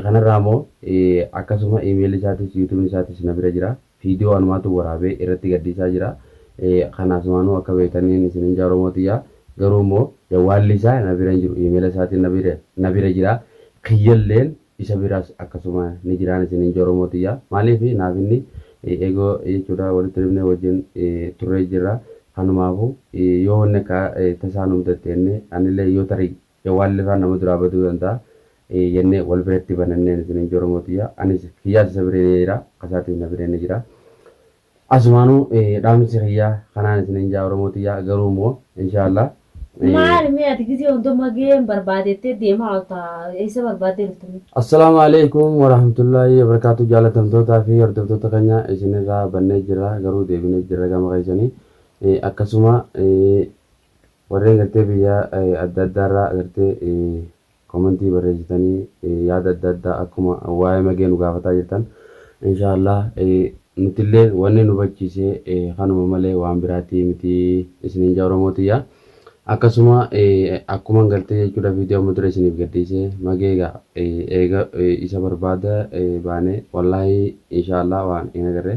Kanarraa moo akkasuma email isaatis youtube isaatis na bira jira video anumaatu waraabee irratti gadhiisaa jira kana asumaanuu akka beektaniin isinin jaa oromoo tiyyaa garuu immoo jawwaalli isaa na bira hin jiru emaila isaatin na bira na bira jira kiyyalleen isa biras akkasuma ni jiraan isinin jaa oromoo tiyyaa maaliif naaf inni egoo jechuudha walitti dhufnee wajjin turree jirra kanumaafu yoo wanni akka tasaa nu mudatte jennee anillee yoo tarii Yoo waan lafaa nama duraa baduu danda'a jennee wal bira itti banannee nuti leenjii Oromoo tiyya anis kiyyaas isa biree ni jira akka isaatiif na biree ni jira. Asumaanuu dhaamsi kiyya kanaan isiniin jaa Oromoo tiyya garuu immoo inshaa Allah. Maali mee ati gizee hunda mageen barbaadettee deemaa olta eessa barbaaddee dhufte mee. Assalaamu Aleykum Warahmatullaahi Wabarakaatu Jaalatamtootaa fi hordoftoota keenya isinirraa bannee jirra garuu deebinee jirra gama keessanii akkasuma Warri agartee biyya adda addaarraa agartee komentii barreessitanii yaada adda addaa akkuma waa'ee magee nu gaafataa jirtan inshaa Allah nutillee wanni nu bachiise kanuma malee waan biraatti miti isiniin jaa oromoo tiyya akkasuma akkuman gartee jechuudha viidiyoo amma dura isiniif gadhiise magee egaa eega isa barbaada baane wallaahi inshaa Allah waan hin agarre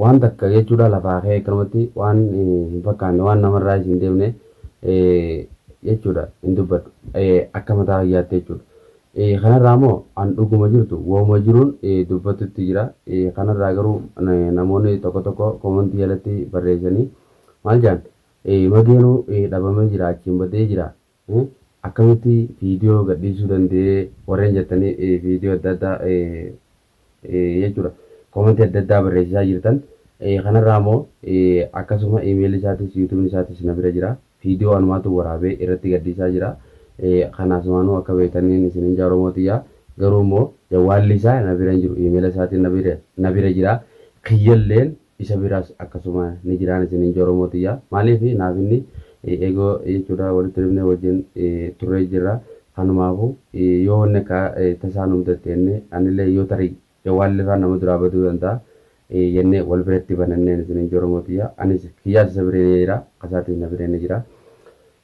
Waan takka jechuudha lafaa ka'ee akkanumatti waan hin fakkaanne waan namarraayis hin deemne jechuudha hin dubbadhu akka mataa kiyyaatti jechuudha. Kanarraa immoo an dhuguma jirtu wauma jiruun dubbatutti jira. Kanarraa garuu namoonni tokko tokko koomantii jalatti barreessanii maal jedhan mageenuu dhabamee jira achiin badee jira Hii akkamitti video gadhiisuu danda'ee warreen jettanii video adda addaa jechuudha comment adda addaa barreessisaa jirtan kanarraa immoo akkasuma email isaatis youtube isaatis na bira jira video anumaatu waraabee irratti gadhiisaa jira kana asumaanuu akka beektaniin isinin jaa oromoo tiyyaa garuu immoo jawwaalli isaa na bira hin jiru email isaatiin na bira jira kiyyalleen isa biras akkasuma ni jiraan isinin je oromoo tiyya maalif naaf inni ego jechuudha walitti dhufne wajjin turre jirra kanumaafu yoo wanni akka tasaa nu mudatte jenne anille yoo tarii jawwaalli faan nama duraa baduu danda'a jenne wal biratti bananneen isinin je oromoo tiyya anis kiyyaas isa bire ni jira kasaatis na bire ni jira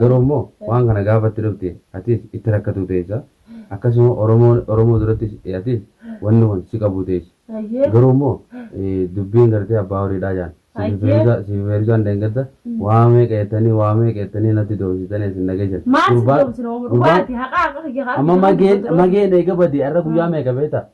Garuu immoo waan kana gaafa itti dhufte atis itti rakkatuu teessa. Akkasuma Oromoon Oromoo durattis atis wanni kun si qabuu teessi. Hayyee. Garuu immoo dubbiin gartee abbaa horiidhaa jaan. Siifi Hayyee. Feeruzaa siifi Feeruzaan dheengadda waa meeqa jettanii waa meeqa jettanii natti doomsitanii isin na geessan. Maal si Gurbaan- doomsina omo gurbaan- dhugaati haqaa haqa kiyya kaa Amma mageen mageen eega badee har'a guyyaa meeqa beektaa?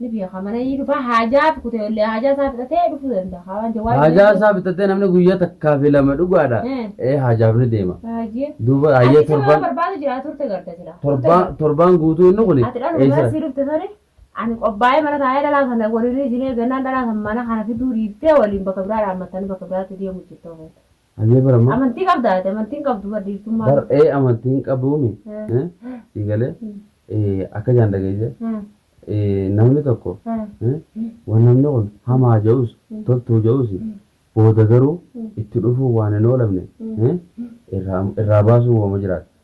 Ni beeka mana ni dhufa haajaa kutee ollee haajaa isaa fixatee dhufuu danda'a. Haa waan jawaar Haajaa beekuu. isaa bitatee namni guyyaa takkaa fi lama dhugaadha. Eh. Ee haajaaf ni deema. Baay'ee. Duuba Ati hayyee si waan torbaan barbaadu jira turte garda jira. torbaan torbaan guutuu inni kuni Ati dhaluma eessa? mana sii dhufte sani ani qophaa'ee mana taa'ee dhalaa sana waliin isinee gannaan dhalaa sana mana kana fiduu dhiiftee waliin bakka biraa dhaammattanii bakka biraatti deemu jirtu. Hayyee bara amma. Amantii qabda ati amantiin qabdu bar dhiirtummaa. Bar ee amantiin qabuumi. Eh. eh, Sii galee Mm. eh, akka jaan dhageesse Eh, eh, namni tokko eh, eh, waan namni kun hamaa ja'us Mm. toltuu ja'us Mm. booda garuu Mm. itti dhufuu waan hin oolamne Mm. eh, irraa irraa baasuu waama jiraata.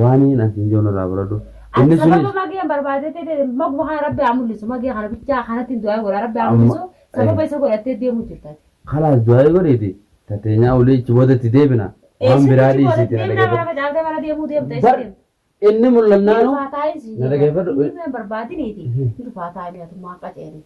Waaniin an siin joon irraa baradhu. Inni suni. Sababa mageen barbaadee ta'e maguma kana rabbi haa mul'isu magee kana bichaa kanatti hin du'aa godha rabbi haa mul'isu sababa isa godhattee deemuu jirta. Kalaas du'aa godhiiti tateenyaa ulii ichi booda itti deebina waan biraa dhiisiiti na dhaggeeffadhu. Bar inni mul'annaanu na dhaggeeffadhu. Barbaadiniiti. Dhufaa taa'ee mi'atummaa qaceelii.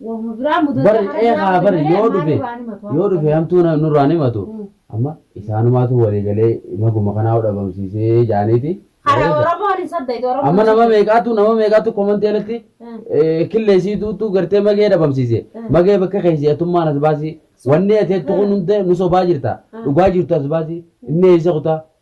Wahuma biraa mudata Bar hara ee biraa haa bar mudate yoo malee dhufe maal nurraa himatu? yoo dhufe hamtuu na- nurraan himatu Mm. amma isaanumaatu walii galee maguma kanaa dhabamsiisee jaaniiti. Hara Malee- Oromoon hin saddeeti Oromoon. Amma nama meeqaatu nama meeqaatu komantii alatti Mm. eh, killeessii duutu gartee magee dhabamsiise Mm. magee bakka keessi atummaan as baasii wanni ati jettu kun hundee nu sobaa jirta Mm. dhugaa jirtu as baasii inni eessa kutaa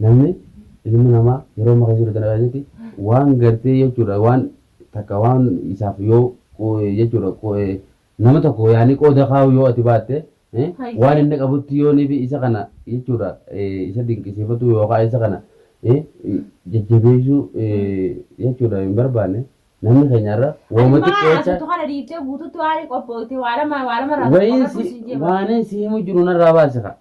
Namni ilmi namaa yeroo amma keessa jiru tana keessatti waan gartee jechuudha waan takka waan isaaf yoo jechuudha nama tokko yaani qooda kaa'u yoo ati baatte waan inni qabutti yoo nifi isa kana jechuudha isa dinqisiifatu yookaan isa kana jajjabeessuu jechuudha hin barbaanne namni keenyarra wooma xiqqeessa wayiin si himu jiru narraa baasika